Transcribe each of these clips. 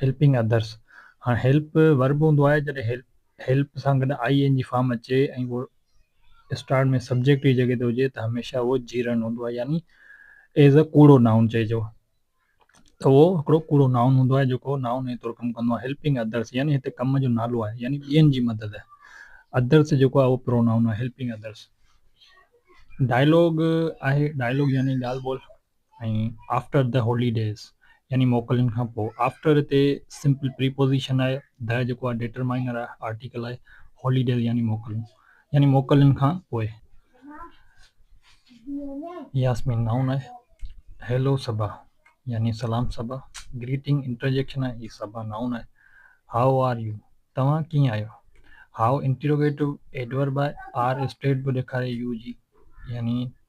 Helping Others، هاڻ Help Verb هوندو آهي جڏهن Help Help سان گڏ آئي اين جي فارم اچي ۽ اهو اسٽارٽ ۾ سبجيڪٽ جي جڳهه تي هجي ته هميشه اهو جيرنڊ هوندو آهي يعني ايز اي ڪوڙو نائون چئجو ته اهو هڪڙو ڪوڙو نائون هوندو آهي جيڪو نائون جي طور ڪم ڪندو آهي Helping Others يعني هتي ڪم جو نالو آهي يعني ٻين جي مدد Others جيڪو آهي اهو پرو نائون آهي Helping Others ڊائلاگ آهي ڊائلاگ يعني ڳالهه ٻولهه ۽ After the holidays يعني موڪلن کان پوء. After هتي سمپل پريپوزيشن آهي. The جيڪو آهي ڊيٽرمائنر آهي، آرٽيڪل آهي. Holidays يعني موڪلون يعني موڪلن کان پوء. ياسمين نائون آهي. Hello صبا يعني سلام صبا. Greeting انٽرجيڪشن آهي. هي صبا نائون آهي. How are you توهان ڪيئن آهيو. How انٽروگيٽو ايڊورب آهي. Are اسٽيٽ به ڏيکاري يو جي يعني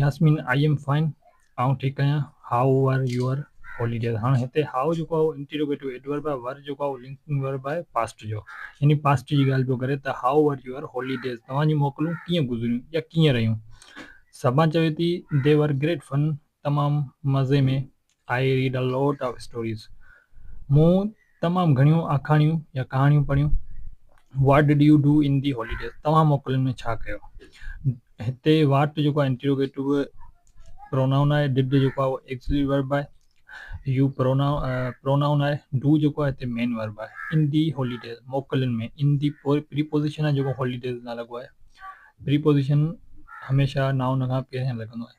ياسمين، آئي ايم فائن، آئون ٺيڪ آهيان، هائو ور يوئر هوليڊيز. هاڻ هتي هائو جيڪو آهي اهو انٽيروگيٽو ايڊورب آهي، ور جيڪو آهي اهو لنڪنگ ورب آهي پاسٽ جو، يعني پاسٽ جي ڳالهه پيو ڪري ته هائو ور يوئر هوليڊيز، توهان جون موڪلون ڪيئن گذريون يا ڪيئن رهيون. سبان چوي ٿي، دي ور گريٽ فن، تمام مزي ۾، I read a lot of stories, مون تمام گهڻيون آکاڻيون يا ڪهاڻيون پڙهيون، what did you do in the holidays, توهان موڪلن ۾ ڇا ڪيو؟ هتي واٽ جيڪو آهي انٽروگيٽو پرونائون آهي، ڊڊ جيڪو آهي اهو ايڪسلري ورب آهي، يو پرونائون آهي، ڊو جيڪو آهي هتي مين ورب آهي، ان دي هاليڊيز موڪلن ۾ ان دي پريپوزيشن آهي جيڪو هاليڊيز لاء لڳو آهي، پريپوزيشن هميشه نائون کان پهريان لڳندو آهي.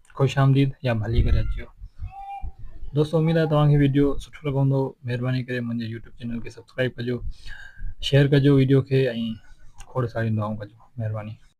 خوش آمديد يا ڀلي ڪري اچيو دوستو اميد آهي توهان کي ويڊيو سٺو لڳو هوندو مهرباني ڪري منهنجي يوٽيوب چينل کي سبسڪرائب ڪجو شيئر ڪجو ويڊيو کي ۽ کوڙ ساريون دعائون ڪجو مهرباني